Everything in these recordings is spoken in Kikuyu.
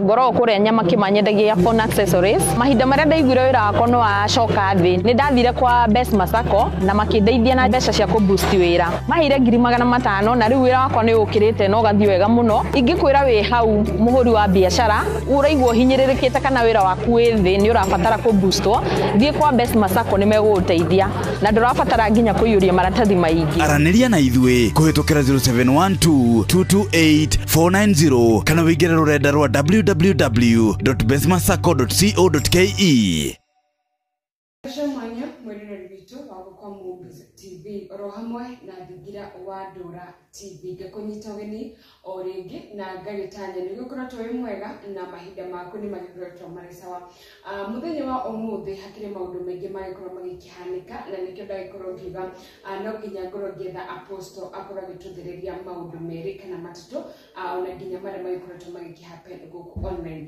ngoragwo kũrĩa nyama kĩma nyendagia phone accessories mahinda marĩa ndaiguire wĩra wakwa nĩ wacoka thĩ nĩ ndathire kwa best masako na makĩndeithia na mbeca cia kũboost wĩra maheire ngiri magana matano na rĩu wĩra wakwa nĩ ũkĩrĩte na ũgathiĩ wega mũno ingĩkwĩra wĩ hau mũhũri wa biacara ũraigua ũhinyĩrĩrĩkĩte kana wĩra waku wĩ thĩ nĩ ũrabatara kũboostwo thiĩ kwa best masako nĩ megũgũteithia Na ndũrabatara nginya kũiyũria maratathi maingĩ. Aranĩria na ithuĩ kũhĩtũkĩra 0712 228 490 kana wĩingĩre rũrenda rwa www.besmasacco.co.ke. Mbica mwanya mwĩroreri witũ wa Gũkwa Movies TV oro hamwe na Thingira wa Ndũra TV ngĩkũnyita ũgeni o rĩngĩ na ngagĩtanya nĩ gĩkoretwo wĩ mwega na mahinda maku nĩ magĩkoretwo marĩ sawa Ah, mũthenya wa ũmũthĩ hakĩrĩ maũndũ maingĩ magĩkorwo magĩkĩhanĩka na nĩkĩo ndagĩkorwo ngiuga ah, no nginya ngorwo ngĩetha aposto akorwo agĩtũthereria maũndũ merĩ kana matatũ ah, ona nginya marĩa magĩkoretwo magĩkĩhappen gũkũ online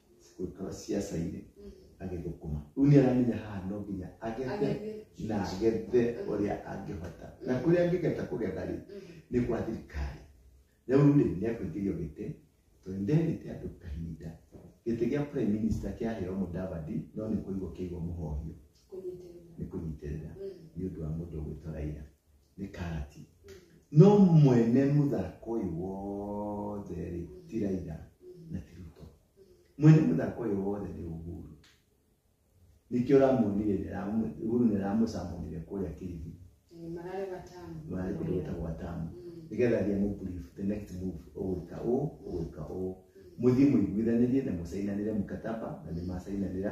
gwikara ciaca-inĩ agĩthũkũma rĩu nĩ aramenya haha no nginya agethe Agethe. na agethe ũrĩa angĩhota na kũrĩa angĩgeta kũgetha rĩ nĩ gwa thirikari rĩu rĩ nĩ akũingĩrio gĩtĩ tondũ nĩ ndehĩte andũ kahinda gĩtĩ gĩa prime minister kĩaheo mũdavadi no nĩ kũigwo kĩigwo mũhohio nĩ kũnyitĩrĩra nĩ ũndũ wa mũndũ ũgwĩtwo raira nĩ karati no mwene mũthako ũyũ wothe rĩ ti raira na ti ruto mwene mũthako ũyũ wothe nĩ uhuru nĩkĩo ũramuonire nĩramu- uhuru nĩramũcamũnire kũrĩa kĩrigi Eh, mararĩ watamu mararĩ kũndũ gwĩtagwo atamu Mm. nĩgetha thiĩ mũbrief the next move ũgwĩka ũũ ũgwĩka ũũ mũthiĩ mũiguithanĩrie na mũcainanĩre mkataba na nĩ macainanĩra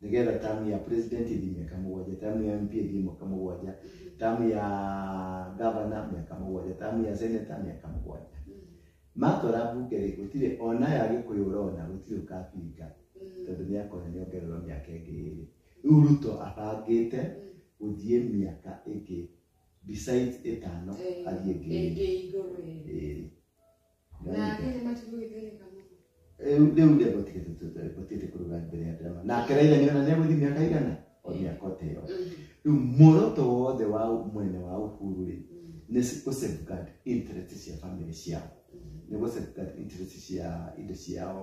nĩgetha tamu ya president ĩthiĩ mĩaka mũgwanja tamu ya mp ĩthiĩ mwaka mũgwanja tamu ya gavana mĩaka mũgwanja tamu ya seneta mĩaka mũgwanja matwara mbunge rĩ gũtirĩ ona ya gĩkũyũ ũrona gũtirĩ ũkabinga tondũ nĩ akona nĩ ongererwo mĩaka ĩngĩ ĩrĩ rĩu ruto abangĩte gũthiĩ mĩaka ĩngĩ besides ĩtano athiĩ ĩngĩ ĩrĩ. Ĩngĩ igũrũ ĩrĩ. Ĩrĩ. Nake nĩ matigwo gĩthĩnĩka mũno. Rĩu rĩu ndĩ gũtirĩ tũtũ- gũtirĩ kũruga mbere ya ndama nake raitha nĩ ona nĩegũthiĩ mĩaka igana o mĩaka ũteo rĩu muoroto wothe wa mwene wa uhuru rĩ nĩ s- gũ safeguard interest cia family ciao nĩ gũ safeguard interest cia indo ciao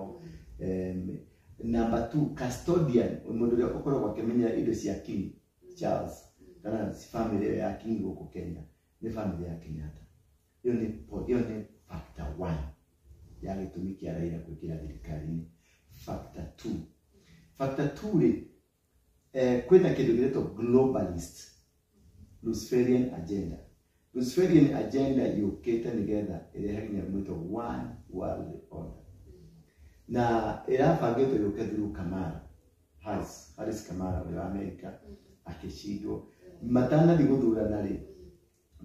Em, number two custodian mũndũ ũrĩa ũkoragwo akĩmenyera indo cia king charles kana family ĩyo ya king gũkũ kenya nĩ family ya kenyatta ĩyo nĩ po- ĩyo nĩ factor one ya gĩtũmi kĩa raira kũingĩra thirikari-inĩ factor two factor two rĩ eh, kwĩna kĩndũ gĩretwo globalist luciferian agenda luciferian agenda yũkĩte nĩgetha ĩrehe nginya mwĩtwo one world order na ĩrabangĩtwo yũke through kamara Harris, Harris kamara ũrĩa wa amerika akĩcindwo matanathiĩ gũthurana rĩ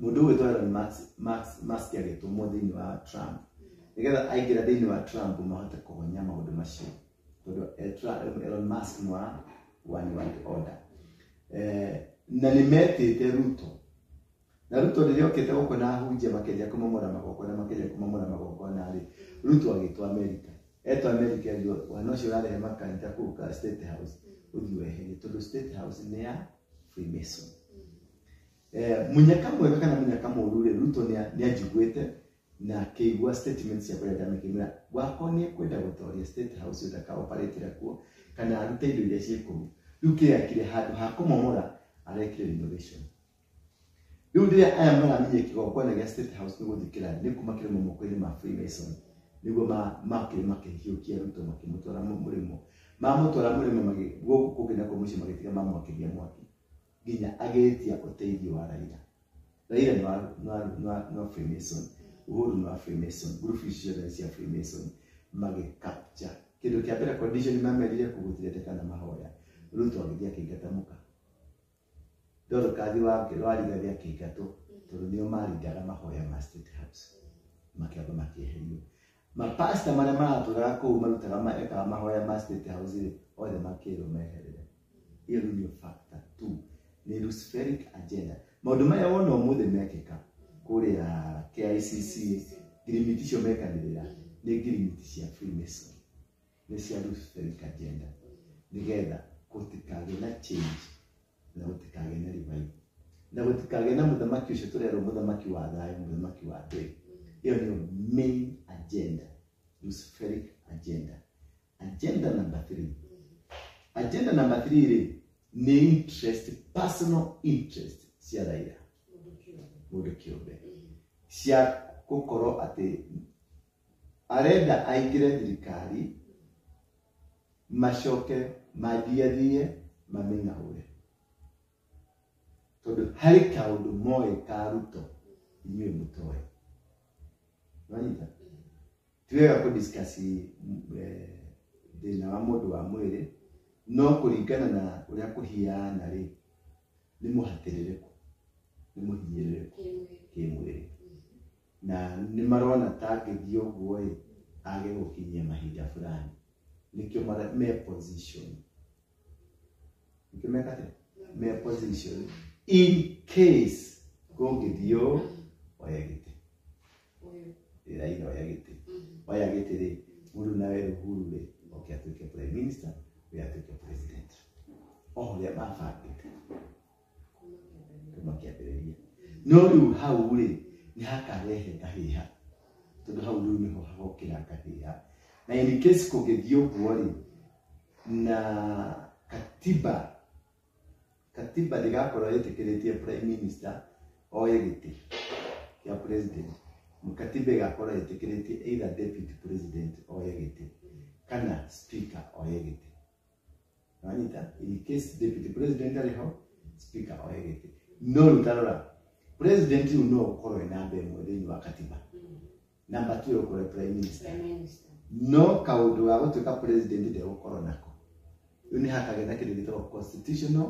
Mũndũ ũgwĩtwo Elon Musk- Musk- Musk agĩtũmwo thĩinĩ wa Trump nĩgetha aingĩra thĩinĩ wa Trump mahote kũhonia maũndũ macio tondũ eh, Tra- Elon Musk nĩ wa one world order Eh, na nĩ metĩte Ruto na Ruto rĩrĩa okĩte gũkũ na ahunjia makĩria kũmamũra magongona makĩria kũmamũra magongona rĩ Ruto agĩtwo Amerika etwo Amerika rĩo wana ũcio ũrarehe makanitha kũu ka State House ũthiĩ weherie tondũ State House nĩ ya Freemason eh, munyaka mwega kana munyaka mũru rĩ ruto nĩa- nĩanjiguĩte na akĩigua statement ciakwa rĩrĩa ndamĩkĩmĩra gwakwa nĩ kwenda gũtoria state house ĩyo ndakaoparĩtĩra kuo kana arute indo iria ciĩ kũu rĩu kĩrĩa kire handũ ha kũmomora arekire renovation rĩu rĩrĩa aya maramenye kĩgongona gĩa state house nĩ gũthikĩra nĩ kuma kĩrĩmo moko-inĩ ma freemason nĩguo ma- makĩrĩ makĩhiũkia ruto makĩmũtwara mũ- mũrĩmo mamũtwara mũrĩmo magĩ- gũkũ kũngĩ nakuo mũciĩ magĩtiga mamwakĩria mwaki nginya agĩtia ũteithio wa raira raira nĩ wa- nĩ wa- nĩ wa- nĩ wa freemason uhuru nĩ wa freemason group ici ciothe nĩ cia freemason magĩkapcha kĩndũ kĩa mbere condition mamerire kũgũtirĩtĩka na mahoya ruto agĩthiĩ akĩingata mũka ndorũkathi wake warigathi akĩingatwo tondũ nĩo marindaga mahoya ma state house makĩamba makĩeherio Ma pastor marĩa maratũraga kũu marutaga ma- ekaga mahoya ma state house rĩ othe makĩrwo meherere hiyo rĩu nĩyo factor tu nĩ luciferic agenda maũndũ maya wona ũmũthĩ mekĩka kũrĩa KICC ngirimiti icio mekanĩrĩra nĩ ngirimiti cia freemason nĩ cia luciferic agenda nĩgetha gũtikagĩe na change na gũtikagĩa na ribaibu na gũtikagĩa na mũthamaki ũcio tũrerwo mũthamaki wa thayũ mũthamaki wa ndũĩ ĩyo nĩyo main agenda luciferic agenda agenda number three agenda number three rĩ nĩ interest personal interest cia raira mũndũ kĩũmbe cia gũkorwo atĩ Arenda aingĩre thirikari macoke mandiathie mamĩng'aũre. Tondũ harĩ kaũndũ moĩ ka Ruto inyuĩ mũtoĩ. Nĩwanyita? Ti wega kũ discuss eh, thĩna wa mũndũ wa mwĩrĩ no kũringana na ũrĩa kũhiana rĩ nĩ mũhatĩrĩrĩku nĩ mũhinyĩrĩrĩku kĩmwĩrĩ na nĩ marona ta angĩthiĩ ũguo ĩ age gũkinyia mahinda fulani nĩkĩo mara- me position nĩkĩo meka atĩa? me position in case gũngĩthiĩ ũũ oya gĩtĩ Ũyũ. Ĩ, Raila oya gĩtĩ Mhm. oya gĩtĩ rĩ mũndũ nawe Uhuru rĩ oke atuĩke prime minister ũyũ atuĩke president o ũrĩa mabangĩte kuma kĩambĩrĩria no rĩu hau rĩ nĩ hakarehe kahĩha tondũ hau rĩu nĩho hagokĩra kahĩha na in case kũngĩthiĩ ũguo rĩ na katiba katiba ndĩgakorwo ĩtĩkĩrĩtie prime minister oye gĩtĩ kĩa president katiba ĩgakorwo ĩtĩkĩrĩtie either deputy president oye gĩtĩ kana speaker oye gĩtĩ nĩwanyita in case deputy president arĩ ho speaker oe gĩtĩ no rĩu tarora president rĩu no ũkorwo ena mbe ĩmwe thĩinĩ wa katiba namba tu ũkorwo prime minister Prime Minister. no kaũndũ ga gũtuĩka president ndegũkorwo nako rĩu nĩ hakagetha kĩndũ gĩtagwo constitutional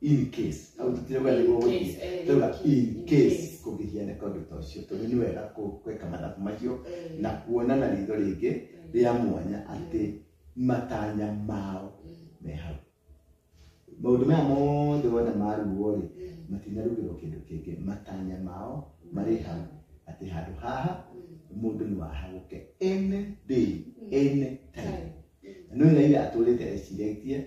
in case au tũtirauga nĩguo gũthiĩ Case, eh, tũrauga in in case case. kũgĩgĩa na kaũndũ ta ũcio tondũ nĩ wega kũ- gwĩka mathabu macio Eh, na kuona na ritho rĩngĩ eh, rĩa mwanya atĩ matanya mao mm, me hau maũndũ maya mothe wona maruo rĩ mm, matinarugĩrwo kĩndũ kĩngĩ matanya mao marĩ hau atĩ handũ haha mm, mũndũ nĩ wahagũke any day mm, any time time, mm, no raira atũrĩte eciretie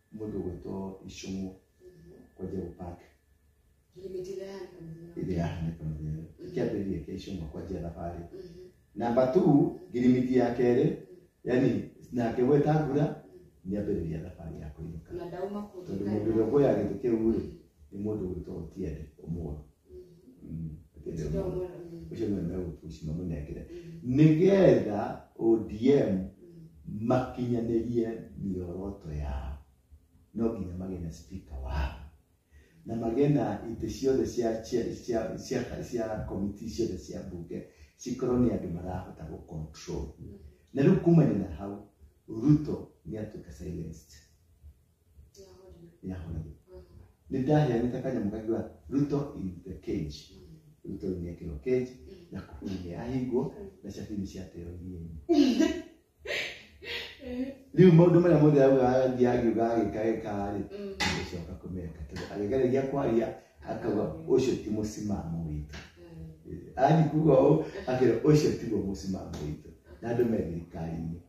mũndũ gwĩtwo icũng'ũ kwanja gũpake ĩrĩa yahanĩka mũthenya kĩambĩrĩria kĩa icũng'ũ kwanja thabarĩ namba tu ngirimiti ya kerĩ yani nake gweta ngura nĩ ambĩrĩria thabarĩ ya kũinũka tondũ mũndũ ũrĩa ũkũya gĩtĩ kĩu rĩ nĩ mũndũ gwĩtwo otiende ũmũrũ Mm, ndĩrĩ Ndio mũndũ. mũno. Mm, ũcio nĩwe megũpuci mamũnengere mm, nĩgetha odm mm. makinyanĩrie mĩoroto yao no nginya magĩe na spika wao na magĩe na itĩ ciothe cia cia cia cia cia komiti ciothe cia mbunge cikorwo nĩ andũ marahota gũ control na rĩu kumania na hau ruto nĩ atuĩka silenced yahoragia nä ndaheanä kanyamå kangä wa ruto in the cage ruto nä ekärwo cage na kuhuna nä yahingwo na cabini ciateo iria-inĩ rä u maå ndå marä a mothe augathiä agä uga agä kagä karä agĩcoka kũmeka tondũ agĩgereria kwaria akauga ũcio ti mũsimamo witũ anyi kuga ũũ akĩra ũcio tiguo mũsimamo witũ na andũ me thirikari-inĩ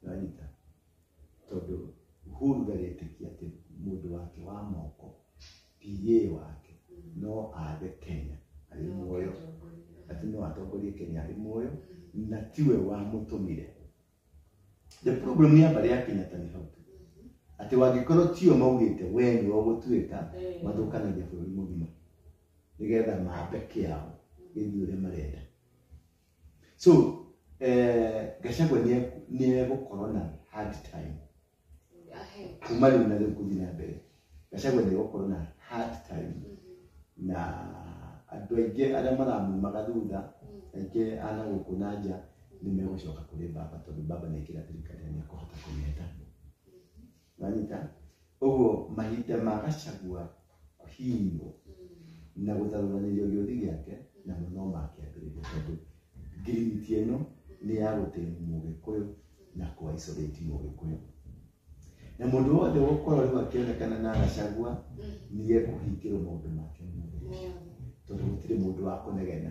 nĩwanyita tondũ uhuru ndarĩtĩkia atĩ mũndũ wake wa moko PA wake no athe kenya arĩ muoyo atĩ no atongorie kenya arĩ muoyo na tiwe wamũtũmire the problem nĩ abarĩ ya kenyatta nĩ hau tu atĩ wangĩkorwo tio maugĩte we nĩwe ũgũtuĩka mathũkanagia bũrũri mũgima nĩgetha mambe kĩao gĩthiĩ ũrĩa marenda so eh, gacagwa nĩ egũkorwo na hard time kuma rĩu na rĩu kũthiĩ na mbere gacagwa nĩ egũkorwo na hard time mm-hmm. na andũ aingĩ arĩa maramumaga thutha mm. aingĩ ana gũkũ na nja nĩ megũcoka kũrĩ baba tondũ baba nĩ kĩra thirikari nĩ ekũhota kũmĩheta wanyita ũguo mahinda ma gacagua kũhinywo na gũtharũranĩrio gĩũthi gĩake namo no makĩambĩrĩria tondũ ngirimiti ĩno nĩ ya gũtĩmu mũgĩkũyũ na kũaisolate mũgĩkũyũ na mũndũ wothe gũkorwo rĩu akĩonekana na gacagua nĩ ekũhingĩrwo maũndũ make mothe tondũ gũtirĩ mũndũ wa kũnegena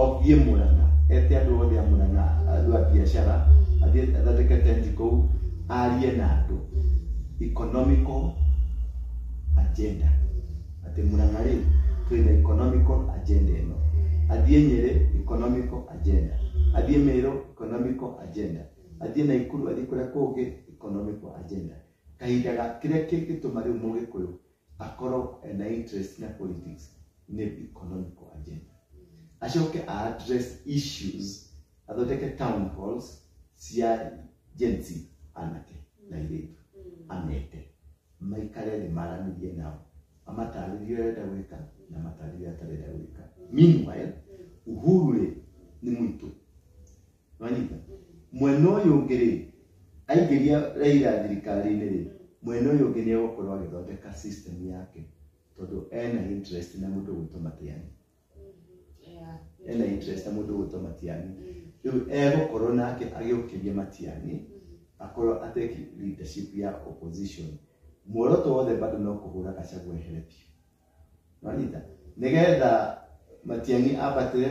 othiĩ mũrana ete andũ othe a mũrana andũ a biacara athiĩ athondeke tenti kũu arie na andũ economical agenda atĩ mũrana rĩ twĩ na economical agenda ĩno athiĩ nyĩrĩ economical agenda athiĩ mĩrũ economical agenda athiĩ na ikuru athiĩ kũrĩa kũngĩ economical agenda kahinda ga kĩrĩa kĩngĩtũma rĩu mũgĩkũyũ akorwo ena interest na politics nĩ economical agenda acoke a address issues athondeke town halls cia Gen Z anake na airĩtu amete maikare thĩ maranĩrie nao amatarĩrie ũrĩa arenda gwĩka na amatarĩrie ũrĩa atarenda gwĩka meanwhile uhuru rĩ nĩ mũitũ wanyita mwena ũyũ ũngĩ rĩ aingĩria Raila thirikari-inĩ rĩ mwena ũyũ ũngĩ nĩ egũkorwo agĩthondeka system yake tondũ ena interest na mũndũ gwĩtwo Matiang'i Yeah. ena interest na mũndũ gwĩtwo Matiang'i rĩu egũkorwo nake agĩũkĩria Matiang'i akorwo ateki leadership ya opposition muoroto wothe bado no kũhũra Gachagua ehere biũ nonyita nĩgetha Matiang'i abatĩre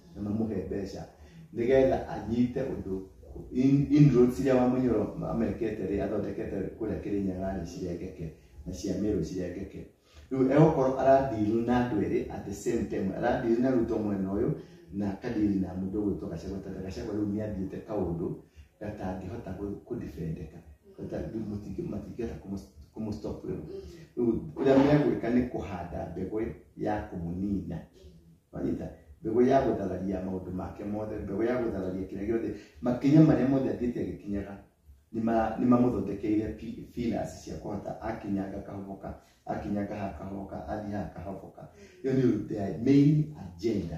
na mamũhe mbeca nĩgetha anyite ũndũ in- inroads iria wamũnyoro amekete rĩ athondekete kũrĩa kĩrĩnyaga rĩ cirengeke na cia mĩrũ cirengeke rĩu egũkorwo aradiri na andũ erĩ at the same time aradiri na ruto mwena ũyũ na akadiri na mũndũ ũgwĩtwo gacagwa tondũ gacagwa rĩu nĩathiĩte kaũndũ gatangĩhota kũ- kũdefendeka Gata- rĩu mũtingĩ- matingĩhota kũmũ- kũmũstop rĩu rĩu ũrĩa megwĩka nĩ kũhanda mbegũ ya kũmũnina Wanyita? Mbegũ ya gũthararia maũndũ make mothe, mbegũ ya gũthararia kĩrĩa gĩothe, makinya marĩa mothe athiĩte agĩkinyaga nĩma- nĩmamũthondekeire pi- pillars cia kũhota akinyanga kahoboka, akinyanga haha kahoboka, athiĩ haha kahoboka. Ĩyo nĩyo the main agenda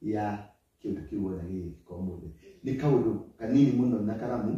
ya kĩndũ kĩu wona gĩgĩka ũmũthĩ. Nĩ kaũndũ kanini mũno na karamu,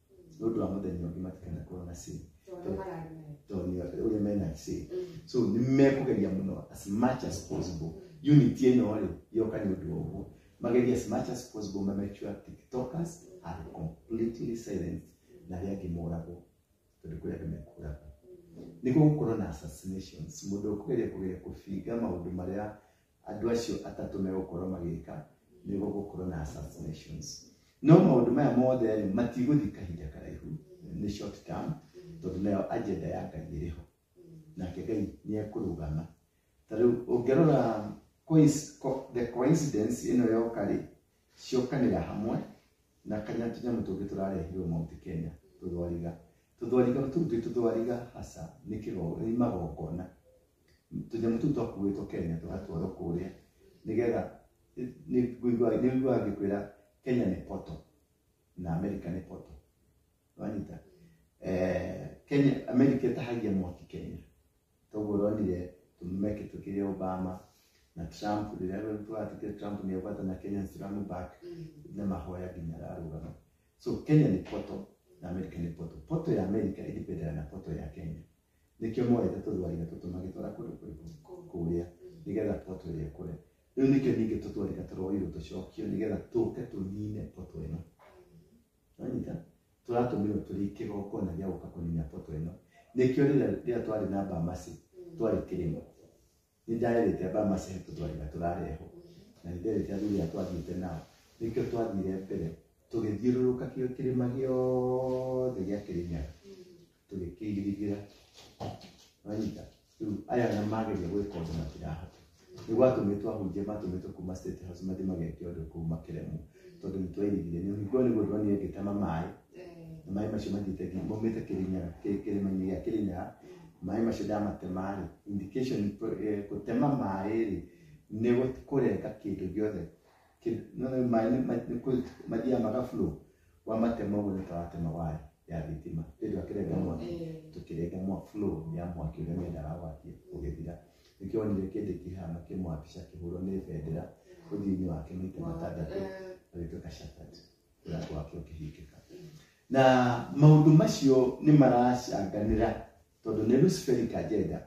nĩ ũndũ wa mũthenya ũngĩ matikanakorwo na sin Tondũ nĩ mararĩ nayo. tondũ nĩ ũrĩa mena sin Mm. so nĩ mekũgeria mũno as much as possible unit ĩno rĩ yoka nĩ ũndũ wa ũguo mageria as much as possible ma make sure tiktokers are completely silent na arĩa angĩ moragwo tondũ kũrĩ andũ mekũragwo nĩguo gũkorwo na assassinations mũndũ ũkũgeria kũgeria kũbinga maũndũ marĩa andũ acio atatũ megũkorwo magĩka nĩ gũgũkorwo na assassinations no maũndũ maya mothe rĩ matigũthiĩ kahinda karaihu nĩ short term tondũ nayo agenda ya ngai ĩrĩ ho nake ngai nĩ ekũrũgama ta rĩu ũngĩrora coinc- co- the coincidence ĩno yoka rĩ ciokanĩra hamwe na kanya tũnyamũ tũngĩ tũrarehirwo Mount Kenya tũthwariga tũthwariga tũu twĩ tũthwariga haca nĩ kĩgo- nĩ magongona tũnyamũ tũu twakuĩtwo kenya tũgatwarwo kũrĩa nĩgetha nĩnguaga ngĩkwĩra kenya nĩ poto na america nĩ poto wanyita Eh, kenya america ĩtahagia mwaki kenya toguo ũronire tũmeke tũkĩrĩa obama na trump rĩrĩa rĩu tũratikire trump nĩ agwata na kenya suramu back na mahoya nginya ararũgama so kenya nĩ poto na america nĩ poto poto ya america ĩdipendana na poto ya kenya nĩkĩo moete tũthwarika tũtũ magĩtwara kũndũ kũrĩkũ kũrĩa nĩgetha poto ĩrĩa ĩkũre rĩu nĩkĩo ningĩ tũthwarika tũroirwo tũcokio nĩgetha tũke tũnine poto ĩno wanyita tũratũmĩrwo tũrĩ kĩgongona gĩa gũka kũnina poto ĩno nĩkĩo rĩrĩa rĩrĩa twarĩ na mbamasi twarĩ kĩrĩma nĩ ndarĩrĩte andũ a macihe tũtwarĩra tũrarehwo na nĩ nderĩte andũ ũrĩa twathiĩte nao nĩkĩo twathire mbere tũgĩthiũrũrũka kĩo kĩrĩma gĩothe gĩa kĩrĩnyaga tũgĩkĩirigĩra wanyita rĩu aya na mageria gwĩka ũndũ matirahota nĩ gwatũmĩtwo ahunjia matũmĩtwo kuma state house mathiĩ mageke ũndũ kũu makĩremwo tondũ nĩ twairigire nĩ ũhingwo nĩ gũthwa nĩ ngĩtama maĩ na maĩ macio mathiĩte nginya maumĩte kĩrĩnyara kĩ- kĩrĩma-inĩ gĩa kĩrĩnyara maĩ macio ndamatema-rĩ indication ni kũ- eh, gũtema maĩ-rĩ nĩ gũ- kũrenga kĩndũ gĩothe Kĩndũ- no no maĩ nĩ- ma- nĩ kũ- mathiaga magaflow wamatema ũguo nĩ taratema waya ya thitima ĩndũ akĩrenga mwaki tũkĩrenga mwa flow ya mwaki ũrĩa mendaga wakie ũgĩthira nĩkĩo wonire kĩndĩ kĩhana kĩmwabica kĩhũrwo nĩ bendera ũthiũ-inĩ wake maita matandatũ agĩtuĩka shatat na gwake ũkĩhingĩka na maũndũ macio nĩ maracanganĩra tondũ nĩ luciferic agenda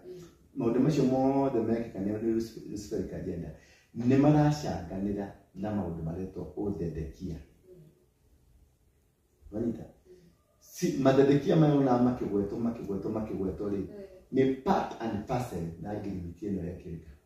maũndũ macio mothe mekĩka nĩ nĩ Luci- luciferic agenda nĩ maracanganĩra na maũndũ maretwo ũthendekia wanyita si, mathethekia maya ona makĩgwetwo makĩgwetwo makĩgwetwo rĩ nĩ part and parcel na ngirimiti ĩno yekĩrĩka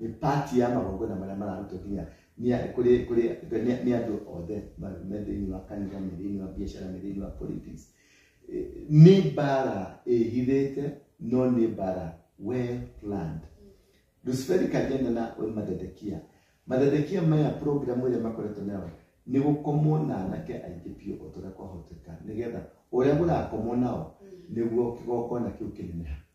nĩ pati ya magongona marĩa mararutwo nginya nĩ- kũrĩ kũrĩ nĩ- nĩ andũ othe ma- me thĩinĩ wa kanitha me thĩinĩ wa biacara me thĩinĩ wa politics Eh, nĩ mbara ĩhithĩte no nĩ mbara well planned luciferi kagenda na mathedekia mathedekia maya programu ĩrĩa makoretwo nayo nĩ gũkomwo na anake aingĩ biũ o tũrĩa kwahoteka nĩgetha ũrĩa ũrakomwo nao nĩguo kĩgongona kĩu kĩneneha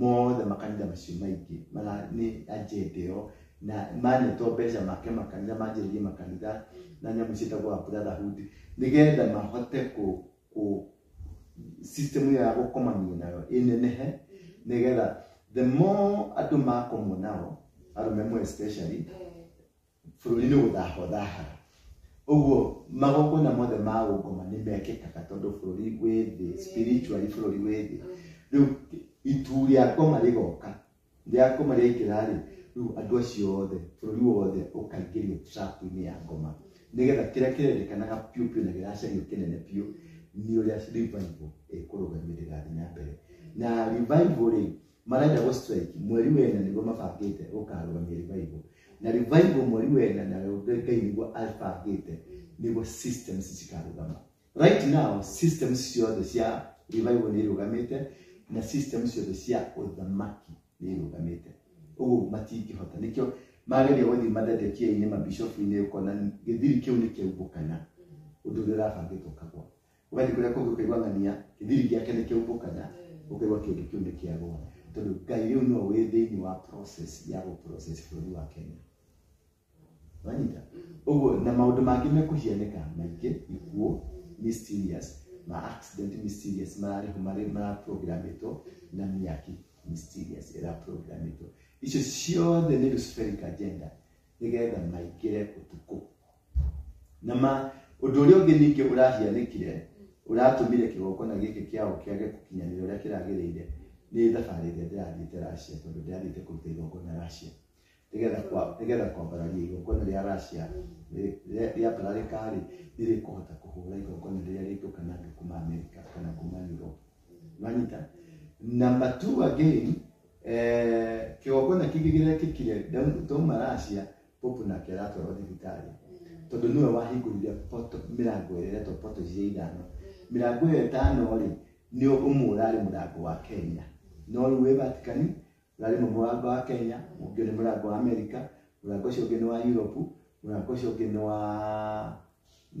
mothe makanitha macio maingĩ mara nĩ agenda ĩyo na manetwo mbeca make makanitha manjĩrĩrie makanitha na nyamũ ciĩtagwo wa brotherhood nĩgetha mahote kũ kũ system ĩyo ya gũkomania nayo ĩnenehe nĩgetha the more andũ makomwo nao arũme mo especially bũrũri-inĩ gũthahwo thahaga ũguo magongona mothe ma ũngoma nĩ mekĩkaga tondũ bũrũri wĩ thĩ spiritually bũrũri wĩ thĩ rĩu itu rĩa ngoma rĩgoka rĩa ngoma rĩaingĩra rĩ rĩu andũ acio othe bũrũri wothe ũkaingĩrio trap-inĩ ya ngoma nĩgetha kĩrĩa kĩrendekanaga biũ biũ na gĩracario kĩnene biũ nĩ ũrĩa revival ĩkũrũgamĩrĩra thĩ na mbere na revival rĩ marenda gå strike mweri wena niguo mabangite gukarũgamia revival na revival mweri wena na ngai niguo abangite niguo systems cikarũgama right now systems ciothe cia revival nä irũgamite na systems ciothe cia ũthamaki nä irũgamite ũguo matingĩhota nĩkĩo mageria gũthiĩ mathetekia-inĩ mabishofu-inĩ ũkona gĩthiri kĩu nĩ kĩaumbũkana ũndũ ũrĩa ũrabangĩtwo kagwa ũgathiĩ kũrĩa kũngĩ ũkaigua ng'ania gĩthiri gĩake nĩ kĩaumũkana ũkaigua kĩndũ kĩu nĩ kĩagũa tondũ ngai rĩu no wĩ thĩinĩ wa process ya gũprocess bũrũri wa kenya wanyita ũguo na maũndũ mangĩ mekũhianĩka maingĩ ikuũ mysterious ma accident mysterious mararĩho marĩ maraprogramitwo na mĩaki mysterious ĩraprogramitwo icio ciothe nĩ luciferic agenda nĩgetha maingĩre ũtukũ na ma ũndũ ũrĩa ũngĩ ningĩ ũrahianĩkire ũratũmire kĩgongona gĩkĩ kĩao kĩage gũkinyanĩra ũrĩa kĩragĩrĩire nĩ thabarĩ ĩrĩa ndĩrathiĩte racia tondũ ndĩrathiĩte kũruta igongona racia nĩgetha kwa- nĩgetha kwambararia igongona rĩa racia rĩ- rĩa- rĩambararĩka-rĩ nĩrĩkũhota kũhũra igongona rĩrĩa rĩngĩũka nangĩ kuma amerika kana kuma europe nanyita namba two again eh, kĩgongona kĩngĩ gĩrekĩkire Daudi twauma Russia popu nake aratwarwo thibitarĩ tondũ nĩwe wahingũrire poto mĩrango ĩrĩa ĩretwo poto cia ithano mĩrango ĩyo ĩtano rĩ nĩ ũmwe ũrarĩ mũrango wa Kenya no rĩu wĩ Vatikani na rĩmwe mũrango wa kenya ũngĩ nĩ mũrango wa america mũrango ũcio ũngĩ nĩ wa europe mũrango ũcio ũngĩ nĩ wa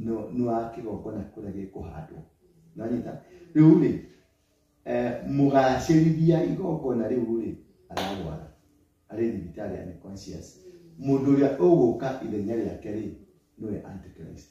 nĩ- nĩ wa kĩgongona kũrĩa gĩkũhandwo nanyita rĩu rĩ eh, mũgacĩrithia igongona rĩu rĩ ararwara arĩ thibitarĩ ya conscious mũndũ ũrĩa ũgũka ithenya rĩake rĩ nĩwe antichrist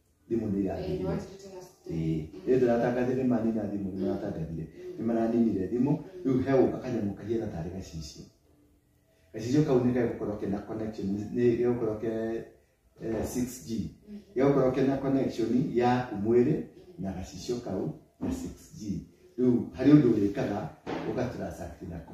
thimũ nĩ irathirire Ĩĩ. Ĩĩ ndĩratangathire manina thimũ nĩ maratangathire nĩ maraninire thimũ rĩu he ũka kanyamũ kahiana tarĩ gacicio gacicio kau nĩ gegũkorwo kena connection nĩ gegũkorwo ke eh, 6G gegũkorwo kena connection yaku mwĩrĩ na gacicio kau na 6G rĩu harĩ ũndũ ũrĩkaga ũgatransact nako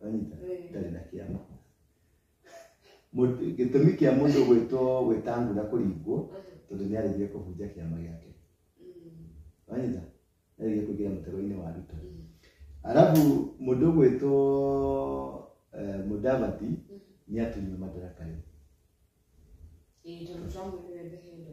Wanyita? Eh. ndarĩ na kĩama Mũndũ- gĩtũmi kĩa mũndũ gwĩtwo gwĩtangura kũringwo tondũ nĩ arĩgire kũhunjia kĩama gĩake wanyita nĩ arĩgire kũingĩra mũtego-inĩ wa ruto arabu mũndũ gwĩtwo eh, mũdavati nĩ atunywo madaraka rĩu Ĩĩ, tondũ twamuonire ndehendo.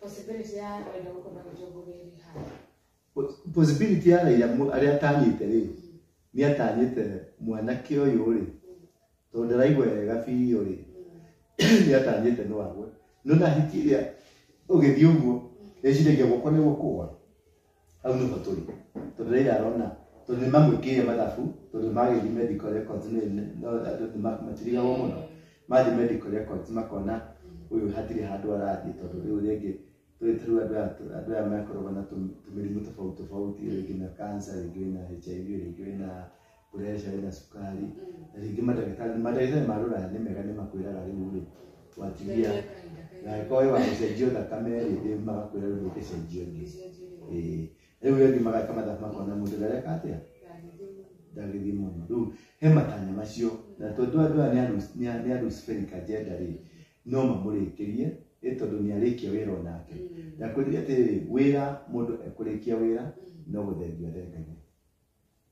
Possibility ya Raila gũkorwo na mũtongoria Rihanna. possibility ya Raila mu- arĩa atanyĩte rĩ nĩ atanyĩte mwanake ũyũ rĩ tondũ ndaraigua wega biũ rĩ nĩ atanyĩte no agwe no na hiti ĩrĩa ũgĩthiĩ ũguo eciragia guoko nĩ gũkũa hau nĩho tũrĩ tondũ raira arona tondũ nĩ mamwĩkĩire mathabu tondũ magĩthiĩ medical records nĩ- nĩ- no andũ nĩ ma- matirigagwo mũno mathiĩ medical records makona ũyũ hatirĩ handũ arathiĩ tondũ rĩu rĩngĩ tũrĩtũ andũ aya tũ- andũ aya makoragwo na tũ- tũmĩrimũ tofauti tofauti rĩngĩ na cancer rĩngĩ wĩna hiv rĩngĩ wĩna pureca wĩna cukari na rĩngĩ mandagĩtarĩ mandagĩtarĩ ma rũraya nĩ mega nĩ makwĩraga rĩu rĩ watigia na angĩkorwo wĩ wa gũcenjio thakame rĩ rĩu magakwĩra rĩu ũgĩcenjio ĩngĩ Ĩĩ. rĩu rĩngĩ magaka mathabu makona mũndũ ndareka atĩa ndagĩthiĩ mũno rĩu he matanya macio na tondũ andũ aya nĩ a Lus- nĩ a- nĩ a Luciferic agenda rĩ no mamũrĩkĩrie ĩ tondũ nĩ arĩkia wĩra o nake ndakwĩrire atĩrĩrĩ wĩra mũndũ ekũrĩkia wĩra no gũthengia athengagia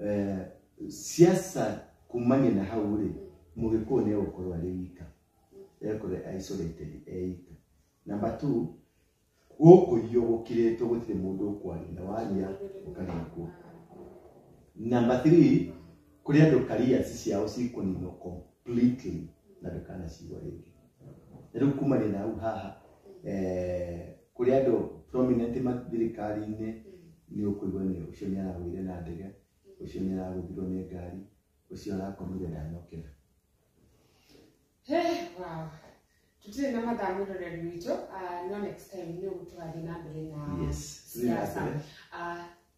Eh, siasa kumania na hau rĩ mũgĩkũũ nĩ egũkorwo arĩ wika ekorwo isolated eika namba two gũkũiywo gũkirĩtwo gũtirĩ mũndũ ũkwaria na waria ũkaria kuo namba three kũrĩ andũ kariaci ciao cikũninwo completely na ndũkanacigwa rĩngĩ Rĩu kumanĩra hau haha eh, kũrĩ andũ prominent ma thirikari-inĩ nĩ ũkũigua nĩ ũcio nĩ aragũire na ndege ũcio nĩ aragũthirwo nĩ ngari ũcio arakomire ndanokĩra He, wow. Tutirĩ na mathaa mũroreri witũ, ah, no next time nĩ ũgũtũrathiĩ na mbere na yes siasa. Ah,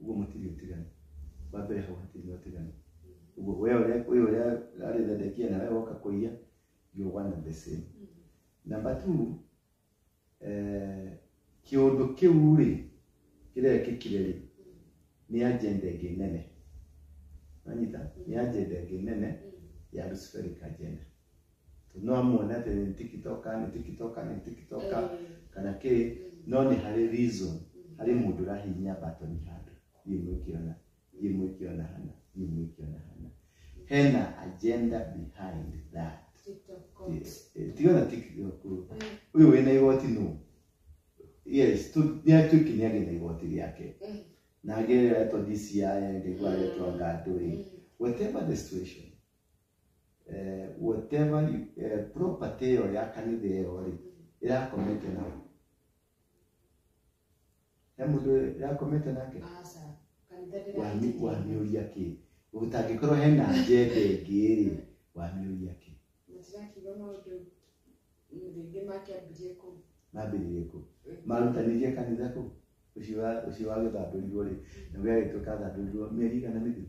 uguo matirĩ ũtiganu wa mbere hau hatirĩ na ũtiganu uguo we ũrĩa wĩ ũrĩa arĩ Zedekia na we woka kũiya you one and the same number two eh, kĩũndũ kĩu rĩ kĩrekĩkire rĩ nĩ agenda ĩngĩ nene nanyita nĩ agenda ĩngĩ nene ya Luciferic agenda no amuone atĩ nĩ tikitoka nĩ tikitoka nĩ tikitoka Eh, kana kĩ no nĩ harĩ reason harĩ mũndũ ũrahihinya batoni handũ thiĩ mwĩkĩona thiĩ mwĩkĩona hana thiĩ mwĩkĩona hana hena agenda behind that TikTok court. tigana tiktok Eh, uyu wina igoti nu yes tu niatukinya gina igoti riake eh, na ageretwo DCI ngegwa aretwo ngandu ri eh. whatever the situation eh, whatever you, eh, property ĩyo ya kanitha ĩyo rĩ ĩrakomete na he mũndũ ĩrakomete nake Aca, kanitha Wami- ndĩraitĩkĩria. wamĩũria kĩ gũtangĩkorwo hena njenda ĩngĩ rĩ wamĩũria kĩ Matirakiuga maũndũ rĩngĩ makĩambirie kũ mambĩrĩrie kũ marutanirie kanitha kũ ũcio wa- ũcio wa gĩthandũrirwo rĩ na gĩagĩtuĩka thandũrirwo mĩeri igana mĩthiru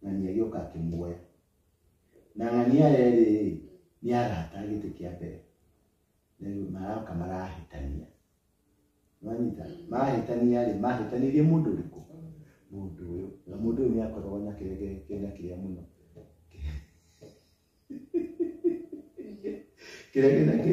ng'ania agĩoka akĩmuoya na ng'ania erĩ nĩ arata gĩtĩ kĩa mbere rĩu maroka marahĩtania mwanyita mahĩtania rĩ mahĩtanirie mũndũ ũrĩkũ mũndũ ũyũ na mũndũ ũyũ nĩ akoragwo na kĩrege kĩna kĩrĩa mũno kĩrege na kĩ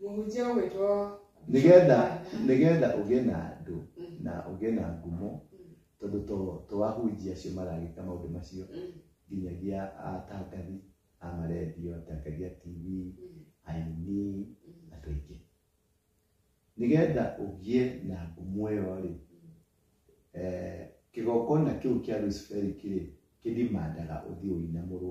Mũhunjia ũgwĩtwo nĩgetha nĩgetha ũgĩe na andũ na ũgĩe na ngumo tondũ to to ahunjia acio maragĩka maũndũ macio nginyagia atangathi a marendio atangathi a tv aini andũ aingĩ nĩgetha ũgĩe na ngumo ĩyo rĩ eh, kĩgongona kĩu kĩa Lucifer kĩrĩ kĩdimandaga ũthiĩ ũinamũrwo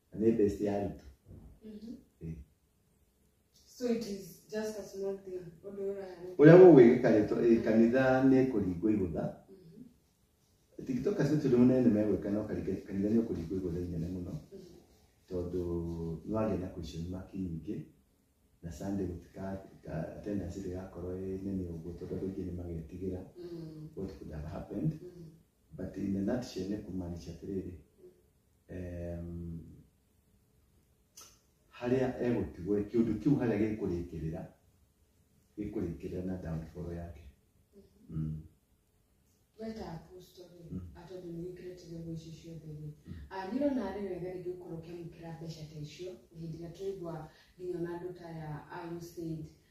Na nĩ best ya Ruto. Mhm. Eh. So it is just a small thing. Ũndũ ũrahanĩka. Ũrĩa gũgwĩkĩka rĩ, to- eh, kanitha nĩ kũringwo igũtha. Mhm. Tiktoka sio tondũ mũnene megwĩka no karike- kanitha nĩ ũkũringwo igũtha inene mũno. Mhm. Tondũ nĩ wagĩa na question mark nyingĩ. Na Sunday gũtika ka- attendance ndĩgakorwo ĩ nene ũguo tondũ andũ aingĩ nĩ magetigĩra Mhm. what could have happened. Mhm. But in a nutshell nĩ kũmaanisha atĩrĩrĩ em, harĩa egũtigwo rĩ, kĩũndũ kĩu harĩa gĩkũrĩkĩrĩra gĩkũrĩkĩrĩra na downfall yake Mm. weta apostoli Mm. atondũ nĩ wĩkĩrĩte nyamũ icio ciothe rĩ ndirwo na arĩ wega rĩngĩ gũkorwo ũkĩamũkĩra mbeca ta icio hĩndĩ ĩrĩa tũigua nginya ona andũ ta ya IUCAID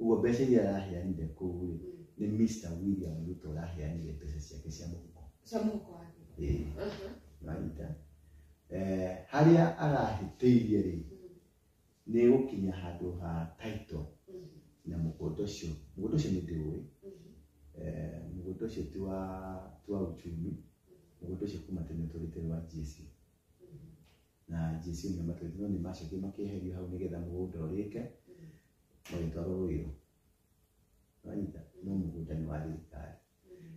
ũguo mbeca iria araheanire kũu rĩ nĩ Mr William Ruto araheanire mbeca ciake cia mũhuko cia mũhuko wake Ĩĩ, Aha. marita Eh, harĩa arahĩtĩirie rĩ nĩ gũkinya handũ ha title Mhm. na mũgũnda ũcio mũgũnda ũcio nĩ ndĩũĩ Mhm. Eh, mũgũnda ũcio ti wa ti wa uchumi mũgũnda ũcio kuma tene tũrĩte wa GSU na Jesu nĩ matwĩte no nĩ macokio makĩeherio hau nĩgetha mũgũnda ũrĩke magĩtwarwo rũirũ wanyita no mũgũnda nĩ wa thirikari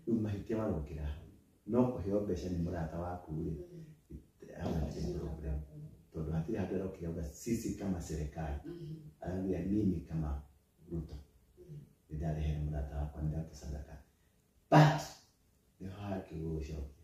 rĩu mahĩtia marokĩra hau no kũheo mbeca nĩ mũrata waku rĩ hau hatirĩ problem tondũ hatirĩ handũ arokire uga sisi kama serikali aragia mimi kama ruto nĩndarehere mũrata wakwa nĩndatũcandaka but nĩ hakĩgũgũcokia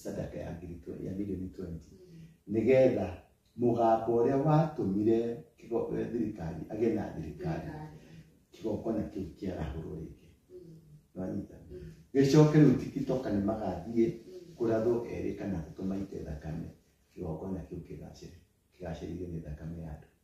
sadaka ya ngiri twe- ya milioni 20 nĩgetha mũgambo ũrĩa watũmire kĩgo- eh, thirikari agĩe na thirikari kĩgongona kĩu kĩarahũrwo rĩngĩ nĩwanyita gĩcoke rĩu tikitoka nĩ magathiĩ kũrathwo erĩ kana atatu maite thakame kĩgongona kĩu kĩgacĩre kĩgacĩrithio nĩ thakame ya andũ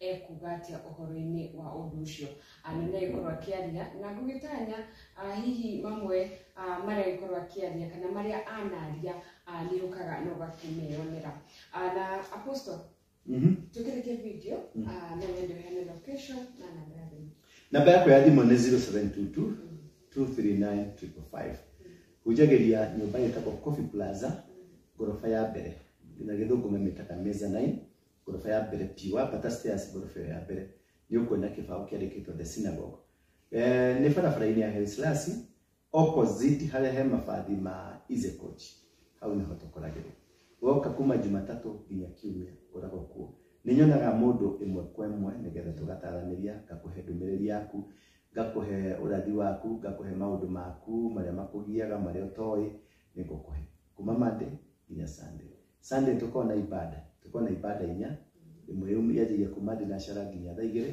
ekuga atia ũhoro-inĩ wa ũndũ ũcio Ah, na nĩagĩkorwo akĩaria na ngũgĩtanya ah, hihi mamwe ah, marĩa agĩkorwo akĩaria kana marĩa anaria ah, nĩ ũkaga na ũgakĩmeyonera Ah, na apostle Mhm. tũkĩrĩke video Mm. ah, na wendo hene location na namba ya thimũ namba yakwa ya thimũ nĩ 0722 239 555 hunjagĩria nyũmba ĩtagwo coffee plaza ngoroba ya mbere na gĩthũngũ mamĩtaga meza 9 ngoroba ya mbere biũ wambata stairs ngoroba ĩyo ya mbere nĩ ũkuona kĩbaũ kĩandĩkĩtwo the synagogue eh, nĩ barabara-inĩ ya Henslasi opposite harĩa he mabathi ma Izecoach hau nĩho tũkoragĩrwo woka kuma Jumatatũ nginya Kiumia ngoragwo kuo nĩ nyonaga mũndũ ĩmwe kwa ĩmwe nĩgetha tũgataranĩria ngakũhe ndũmĩrĩri yaku ngakũhe ũrathi waku ngakũhe maũndũ maku marĩa makũgiaga marĩa ũtoĩ nĩ ngũkũhe kuma Monday nginya Sunday Sunday tukorwo na ibada tukorwo na ibada inya ĩmwe yum- yanjagia kuma thinacara nginya thaa igĩrĩ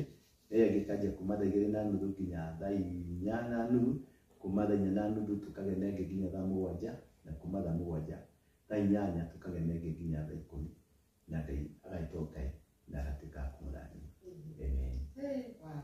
ĩyo ĩngĩ ĩkanjia kuma thaa igĩrĩ na nuthu nginya thaa inya na nuthu kuma thaa inya na nuthu tukagĩa na ĩngĩ nginya thaa mũgwanja na kuma thaa mũgwanja thaa inyanya tukagĩa na ĩngĩ nginya thaa ikũmi na ngai agaitwo ngai na agatuĩka akumũrathima amen Hey, wow.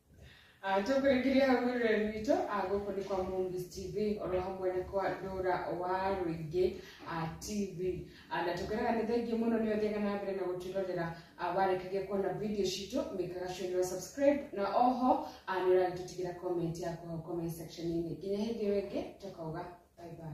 Ah, tũkũrĩkĩria hau rũrĩrĩ witũ ah, gũkũ nĩ kwa Movies TV oro hamwe na kwa ndũra wa rũingĩ ah, TV Ah, na tũkwĩraga nĩ thengiĩ mũno nĩ ũthiaga na mbere na gũtwĩrorera ah, warĩkagia kuona video citũ mĩkaga sure nĩ wa subscribe na oho ah, nĩ ũragĩtũtigĩra comment yaku hau comment section-inĩ nginya hĩndĩ ĩyo ĩngĩ tũkauga bye bye